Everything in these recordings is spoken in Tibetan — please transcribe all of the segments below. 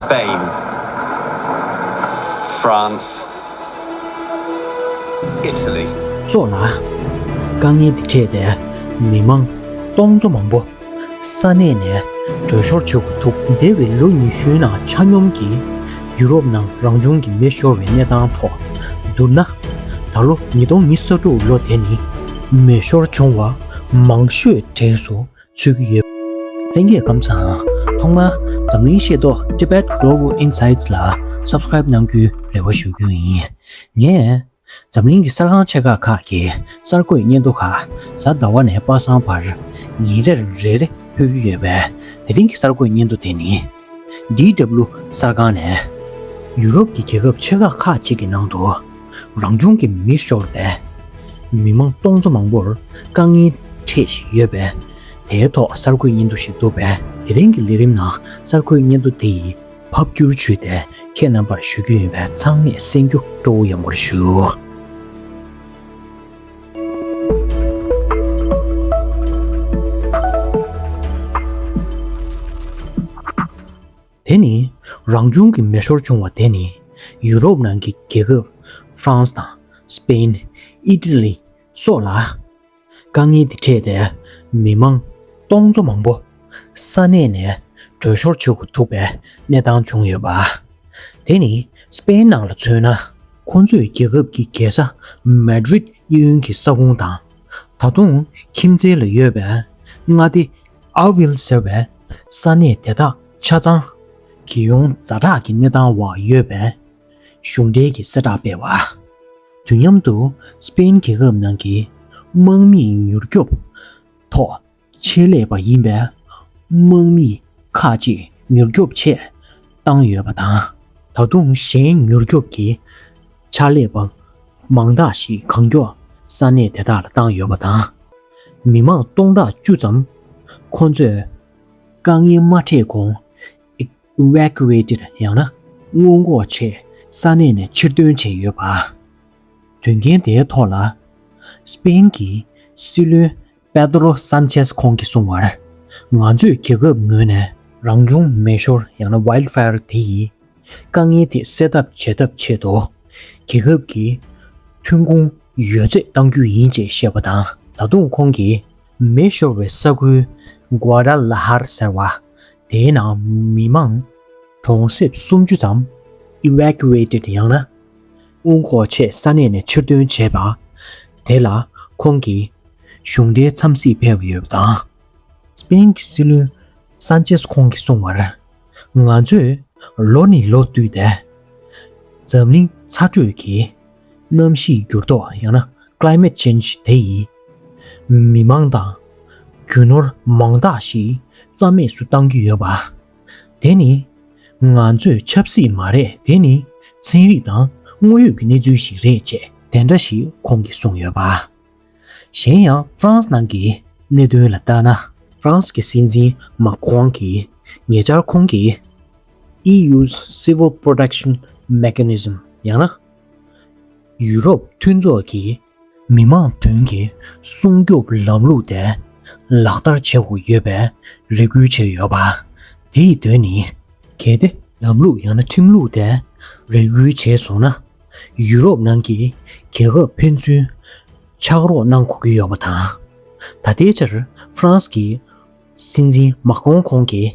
Spain France Italy། སོགས་ལ། དཀའ་ངལ་འདི་འཕྲད་པས་མི་དམངས་སྟོང་ཚོ་མང་པོ་ས་གནས་ནས་བྲོས་ཤོར་བྱེད་དགོས་འདུག། འདས་བའི་ལོ་ཉི་ཤུའི་ནང་ཆ་སྙོམས་ཀྱིས་ཡུ་རོབ་ནང་རང་བྱུང་གི་མེ་ཤོར་བའི་གནས་སྟངས་ཐོག་བསྡུར་ན། ད་ལོ་ཉིས་སྟོང་ཉི་ས་དྲུག་ལོ་དེ་ནི་མེ་ཤོར་བྱུང་བ་མང་ཤོས་གྲས་སུ་ཚུད་ཀྱི་ཡོད། ལྷན་རྒྱས་སྐམ་སའང་ཐོག་མར་འཛམ་གླིང་ཤེས་རྟོགས Tibet Global Insights ལ Subscribe གནང་རྒྱུའི་རེ་བ་ཞུ་རྒྱུ་ཡིན། ངས་འཛམ་གླིང་གི་གསར་ཁང་ཆེ་ཁག་ཁག་གི་གསར་འགོད་སྙན་ཐོ་ཁག་གཟའ་ཟླ་བ་ནས་དཔག་བསམ་བར་ཉིན་རེར་རེ་རེ་ཕུལ་གྱི་ཡོད་པས་དེ་རིང་གི་གསར་འགོད་སྙན་ཐོ་དེ་ནི། DW གསར་ཁང་ནས། ཡུ་རོབ་ཀྱི་རྒྱལ་ཁབ་ཆེ་ཁག་ཁག་ཅིག་གི་ནང་དུ། རང་བྱུང་གི་མི་ཤོར་བས། མི་མང་སྟོང་ཚོ་མང་པོར་དཀའ་ངལ་འཕྲད་བཞིན་ཡོད་པས། དེའི་ཐོག་གསར་འགོད་སྙན་ཐོ་ཞིག་བསྡུ་བས་དེ་རིང་གི་ལས་རིམ་ནང་གསར་འགོད་སྙན་ཐོ་འདི་ཡི་ཕབ་བསྒྱུར་བྱུས་ཏེ་ཁྱེད་རྣམ་པར་ཞུ་རྒྱུ་ཡིན་པས་ཚང་མས་གསན་རྒྱུ་སྤྲོ་བོ་ཡོང་བར་ཞུ། དེ་ནི་རང་བྱུང་གི་མེ་ཤོར་བྱུང་བ་དེ་ནི་ཡུ་རོབ་ནང་གི་རྒྱལ་ཁབ France དང Spain། Italy། སོགས་ལ། དཀའ་ངལ་འདི་འཕྲད་དེ་མི་མང་སྟོང་ཚོ་མང་པོ། ས་གནས་ནས་བྲོས་ཤོར་བྱེད་དགོས་ཐུག་པའི་གནས་སྟངས་བྱུང་ཡོད་པ། དེ་ནི་སི་པེན་ནང་ལ་མཚོན་ན། ཁོ་ཚོས་རྒྱལ་ཁབ་ཀྱི་རྒྱལ་ས་མཱད་རིད་དབྱི་ཡོན་གྱི་ས་ཁུངས་དང། ད་དུང་ཁྱིམ་མཚེས་ལ་ཡོད་པའི་མངའ་སྡེ་ཨ་བྷིལ་ཟེར་བའི་ས་གནས་དེ་དག་ཆ་ཚང་གི་ཡོངས་རྫ་དྲག་གི་གནས་སྟངས་འོག་ཡོད་པའི་གཞུང་འབྲེལ་གྱི་གསལ་བསྒྲགས་སྤེལ་བ། དུས་མཉམ་དུ་སི་པེན་རྒྱལ་ཁབ་ནང་གི་དམག་མིའི་མྱུར་སྐྱོབ་ཐོག་ཆེད་ལས་པ་ཡིན་པའི་དམག་མི་ཁག་ཅིག་མྱུར་སྐྱོབ་ཆེད་བཏང་ཡོད་པ་དང། ད་དུང་གཞན་མྱུར་སྐྱོབ་ཀྱི་ཕྱག་ལས་པ་མང་དག་ཞིག་གང་མགྱོགས་ས་གནས་དེ་དག་ལ་བཏང་ཡོད་པ་དང། མི་མང་སྟོང་ཕྲག་བཅུ་ཙམ་ཁོང་ཚོས་དཀའ་ངལ་མ་འཕྲད་གོང Evacuated ཡང་ན་སྔོན་འགོག་ཆེད་ས་གནས་ནས་ཕྱིར་ཐོན་བྱས་ཡོད་པ། དོན་རྐྱེན་དེའི་ཐོག་ལ་སྤེན་གྱི་སྲིད་བློན་པེ་ཏེ་རོ་སཱན་ཆེས་ཁོང་གིས་གསུངས་བར། ང་ཚོས་རྒྱལ་ཁབ་ངོས་ནས་རང་བྱུང་མེ་ཤོར་ཡང་ན Wild Fire དེ་ཡི་དཀའ་ངལ་དེ་སེལ་ཐབས་བྱེད་ཐབས་ཆེད་དུ་རྒྱལ་ཁབ་ཀྱི་ཐོན་ཁུངས་ཡོད་ཚད་གཏང་རྒྱུ་ཡིན་ཅེས་བཤད་པ་དང་ད་དུང་ཁོང་གིས་མེ་ཤོར་བའི་ས་ཁུལ Guadalajara ཟེར་བ་དེའི་ནང་མི་མང་གྲོང་གསེབ་སུམ་ཅུ་ཙམ Evacuated ཡང་ན་དབུ་འགོག་ཆེད་ས་གནས་ནས་ཕྱིར་འདོན་བྱས་པ། དེ་ལ་ཁོང་གིས། གཞུང་འབྲེལ་འཚམས་གཟིགས་ཕེབས་ཡོད་པ་དང། སྤ་ཡིན་གྱི་སྲིད་བློན་སཱན་ཅེས་ཁོང་གིས་གསུངས་བར། ང་ཚོས་ལོ་ནས་ལོ་བསྟུད་དེ། འཛམ་གླིང་ཚ་དྲོད་ཀྱི་གནམ་གཤིས་འགྱུར་ལྡོག་ཡང་ན Climate Change དེ་ཡིས། མི་མང་དང། རྒྱུ་ནོར་མང་དག་ཞིག་རྩ་མེད་སུ་བཏང་གི་ཡོད་པ། དེ་ནི། ང་ཚོས་ཆབ་སྲིད་མ་རེད་དེ་ནི་ཚན་རིག་དང་དངོས་ཡོད་ཀྱི་གནས་ཚུལ་ཞིག་རེད་ཅེས་དེ་འདྲ་ཞིག་ཁོང་གིས་གསུངས་ཡོད་པ། གཞན་ཡང་ཧྥ་རན་སི་ནང་གི་གནད་དོན་ལ་ལྟ་ན། ཧྥ་རན་སི་གི་སྲིད་འཛིན་མཱ་ཁྲོང་གིས་ཉེ་ཆར་ཁོང་གིས། EU's Civil Protection Mechanism། ཡང་ན། ཡུ་རོབ་མཐུན་ཚོགས་ཀྱི་མི་དམངས་དོན་གྱི་སྲུང་སྐྱོབ་ལམ་ལུགས་དེ་ལག་བསྟར་བྱེད་དགོས་ཡོད་པའི་རེ་སྐུལ་བྱས་ཡོད་པ། དེ་ཡི་དོན་ནི། གལ་ཏེ་ལམ་ལུགས་ཡང་ན་ཁྲིམས་ལུགས་དེ་རེ་སྐུལ་བྱས་སོང་ན། ཡུ་རོབ་ནང་གི་རྒྱལ་ཁབ་ཕན་ཚུན་ཕྱག་རོགས་གནང་དགོས་ཀྱི་ཡོད་པ་དང། ད་ལྟའི་ཆར་ཧྥ་རན་སི་ཀྱི་སྲིད་འཛིན་མཱ་ཀྲོང་ཁོང་གིས།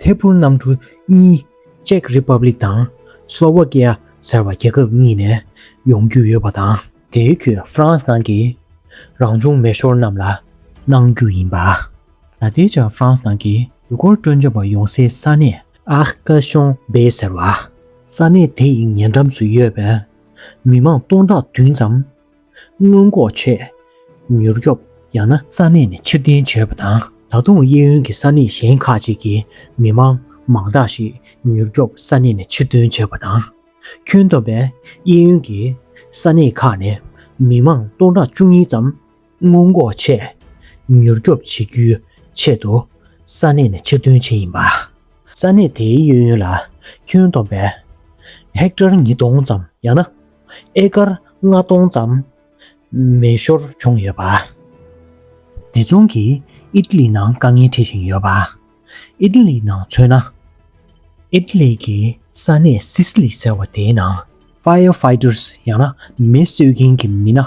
ཐད་འཕུར་གནམ་གྲུ་གཉིས Czech Republic དང Slovakia ཟེར་བ་རྒྱལ་ཁབ་གཉིས་ནས་ཡོང་རྒྱུ་ཡོད་པ་དང། དེའི་ཁུལ France ནང་གི་རང་བྱུང་མེ་ཤོར་རྣམས་ལ་གནང་རྒྱུ་ཡིན་པ། ད་ལྟའི་ཆར France ནང་གི་ཡུལ་སྐོར་སྤྲོ་འཆམ་པ་ཡོང་སའི་ས་གནས Arcachon-Bay ཟེར་བ། ས་གནས་དེ་ཡི་ཉེ་འགྲམ་སུ་ཡོད་པའི་མི་མང་སྟོང་ཕྲག་བདུན་ཙམ་སྔོན་འགོག་བྱས། མྱུར་སྐྱོབ་ཡང་ན་ས་གནས་ནས་ཕྱིར་འཐེན་བྱས་པ་དང། ད་དུང་གཡས་གཡོན་གྱི་ས་གནས་གཞན་ཁག་ཅིག་གི་མི་མང་མང་དག་ཞིག་མྱུར་སྐྱོབ་ས་གནས་ནས་ཕྱིར་འཐོན་བྱས་པ་དང། ཁྱོན་བསྡོམས་པས་གཡས་གཡོན་གྱི་ས་གནས་ཁག་ནས་མི་མང་སྟོང་ཕྲག་བཅུ་གཉིས་ཙམ་སྔོན་འགོག་བྱས། མྱུར་སྐྱོབ་བྱེད་རྒྱུའི་ཆེད་དུ་ས་གནས་ནས་ཕྱིར་འཐོན་བྱས་ཡིན་པ། ས་གནས་དེའི་གཡས་གཡོན་ལ་ཁྱོན་བསྡོམས་པས་ཧེཀ་ཐར་ཉིས་སྟོང་ཙམ་ཡང་ན་ཨེ་དཀར་ལྔ་སྟོང་ཙམ་མེ་ཤོར་བྱུང་ཡོད་པ། དེ་མཚུངས་ཀྱིས་ཨི་ཏི་ལི་ནང་དཀའ་ངལ་འཕྲད་བཞིན་ཡོད་པ། ཨི་ཏི་ལི་ནང་མཚོན་ན། ཨི་ཏི་ལི་གི་ས་གནས་སི་སི་ལི་ཟེར་བ་དེའི་ནང། Fire Fighters ཡང་ན་མེ་གསོད་མཁན་གྱི་མི་སྣ་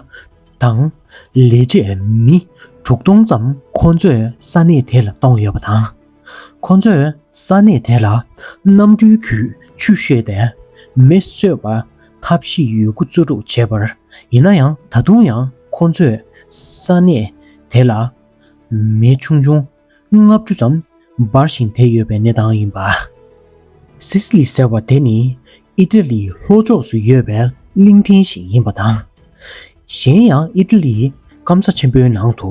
དང། ལས་བྱེད་མི་དྲུག་སྟོང་ཙམ་ཁོ་ཚོས་ས་གནས་དེ་ལ་གཏོང་ཡོད་པ་དང། ཁོ་ཚོས་ས་གནས་དེ་ལ་གནམ་གྲུའི་རྒྱུད་ཆུ་བཤོས་ཏེ་མེ་གསོད་པ། འཐབ་བཞི་ཡོད་རྒུ་གཙོ་སྒྲུག་བྱེད་པར་ཡིན་ན་ཡང་ད་དུང་ཡང་ཁོ་ཚོས་ས་གནས་དེ་ལ་མེ་ཆུང་ཆུང་ལྔ་བཅུ་ཙམ་འབར་ཞིང་དེ་ཡོད་པའི་གནས་སྟངས་ཡིན་པ། Sicily ཟེར་བ་དེ་ནི Italy ལྷོ་ཕྱོགས་སུ་ཡོད་པའི་གླིང་ཕྲན་ཞིག་ཡིན་པ་དང། གཞན་ཡང Italy སྐམ་ས་ཆེན་པོའི་ནང་དུ་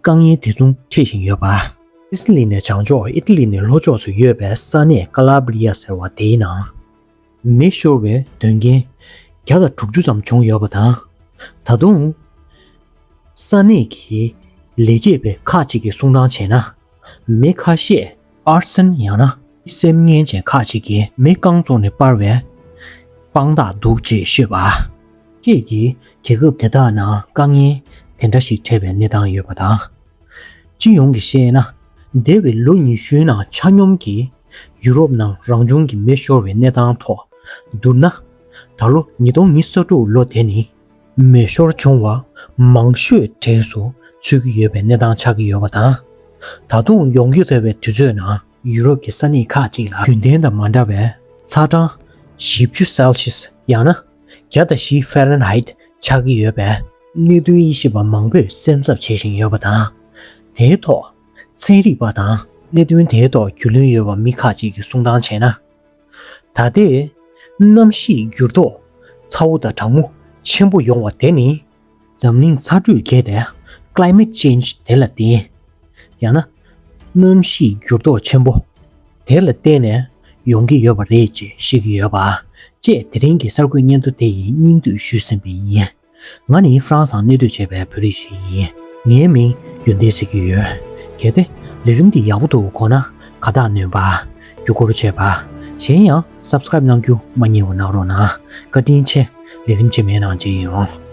དཀའ་ངལ་དེ་མཚུངས་འཕྲད་བཞིན་ཡོད་པ། སི་སི་ལི་ནས་བྱང་ཕྱོགས་ཨི་ཏི་ལི་ནས་ལྷོ་ཕྱོགས་སུ་ཡོད་པའི་ས་གནས་ཀ་ལ་བྷི་ལི་ཡ་ཟེར་བ་དེའི་ནང། མེ་ཤོར་བའི་དོན་རྐྱེན་བརྒྱ་དང་དྲུག་ཅུ་ཙམ་བྱུང་ཡོད་པ་དང། ད་དུང། ས་གནས་ཀྱི་ལས་བྱེད་པས་ཁག་ཅིག་གིས་གསུང་སྟངས་བྱས་ན། མི་ཁ་ཤས་ཨར་སེམས་ཡང་ན་སེམས་ངན་ཅན་ཁ་ཅིག་གིས་མི་རྐང་བཙོང་ནས་སྤར་བའི་དཔང་རྟགས་འདུག་ཅེས་ཤོད་པ། ཁྱེད་ཀྱིས་རྒྱལ་ཁབ་དེ་དག་ནང་དཀའ་ངལ་དེ་འདྲ་ཞིག་འཕྲད་པའི་གནས་སྟངས་ཡོད་པ་དང། སྤྱི་ཡོངས་ཀྱིས་བཤད་ན་འདས་པའི་ལོ་ཉི་ཤུའི་ནང་ཆ་སྙོམས་ཀྱིས་ཡུ་རོབ་ནང་རང་བྱུང་གི་མེ་ཤོར་བའི་གནས་སྟངས་ཐོག་བསྡུར་ན། ད་ལོ་ཉིས་སྟོང་ཉི་ས་དྲུག་ལོ་དེ་ནི་མེ་ཤོར་བྱུང་བ་མང་ཤོས་གྲས་སུ་ཚུད་ཀྱི་ཡོད་པའི་གནས་སྟངས་ཆགས་ཀྱི་ཡོད་པ་དང། ད་དུང་ཡོང་རྒྱུ་འདོད་པའི་དུས་ཚོད་ནང་ཡུ་རོབ་ཀྱི་ས་གནས་ཁག་ཅིག་ལ་རྒྱུན་ལྡན་དང་མ་འདྲ་བའི་ཚ་གྲངས་བཞི་བཅུ Celsius ཡང་ན་བརྒྱ་དང་བཞི Fahrenheit ཆགས་ཀྱི་ཡོད་པའི་གནད་དོན་དབྱེ་ཞིབ་པ་མང་པོས་སེམས་འཚབ་བྱེད་བཞིན་ཡོད་པ་དང། དེའི་ཐོག་ཚན་རིག་པ་དང་གནད་དོན་དེའི་ཐོག་རྒྱུས་ལོན་ཡོད་པ་མི་ཁག་ཅིག་གིས་གསུང་སྟངས་བྱས་ན། ད་ལྟའི། གནམ་གཤིས་འགྱུར་ལྡོག། ཚ་བོ་དང་གྲང་མོ་ཆེན་པོ་ཡོང་བ་དེ་ནི། འཛམ་གླིང་ཚ་དྲོད་རྒྱས་པའི Climate Change དེ་ལ་བརྟེན། ཡང་ན། གནམ་གཤིས་འགྱུར་ལྡོག་ཆེན་པོ། དེ་ལ་བརྟེན་ནས་ཡོང་གི་ཡོད་པ་རེད་ཅེས་བཤད་ཀྱི་ཡོད་པ། ཅེས་དེ་རིང་གི་གསར་འགོད་སྙན་ཐོ་དེ་ཡི་སྙིང་བསྡུས་ཞུས་ཟིན་པ་ཡིན། ང་ནི་ཧྥ་རན་སང་གནས་སྡོད་བྱས་པའི་བོད་རིགས་ཤིག་ཡིན། ངའི་མིང་ཡོན་ཏན་ཟེར་གྱི་ཡོད། གལ་ཏེ། ལས་རིམ་འདི་ཡག་པོ་འདུག་གོ་ན། ཁ་བཏགས་ནོན་པ། རྒྱུ་སྐོར་བྱས་པ། གཞན་ཡང། Subscribe གནང་རྒྱུ་མ་རྙེད་བ་གནང་རོགས་གནང། བཀའ་དྲིན་ཆེ། ལས་རིམ་ཆེ་མེད་ནང་བྱེད་ཡིན་རུང།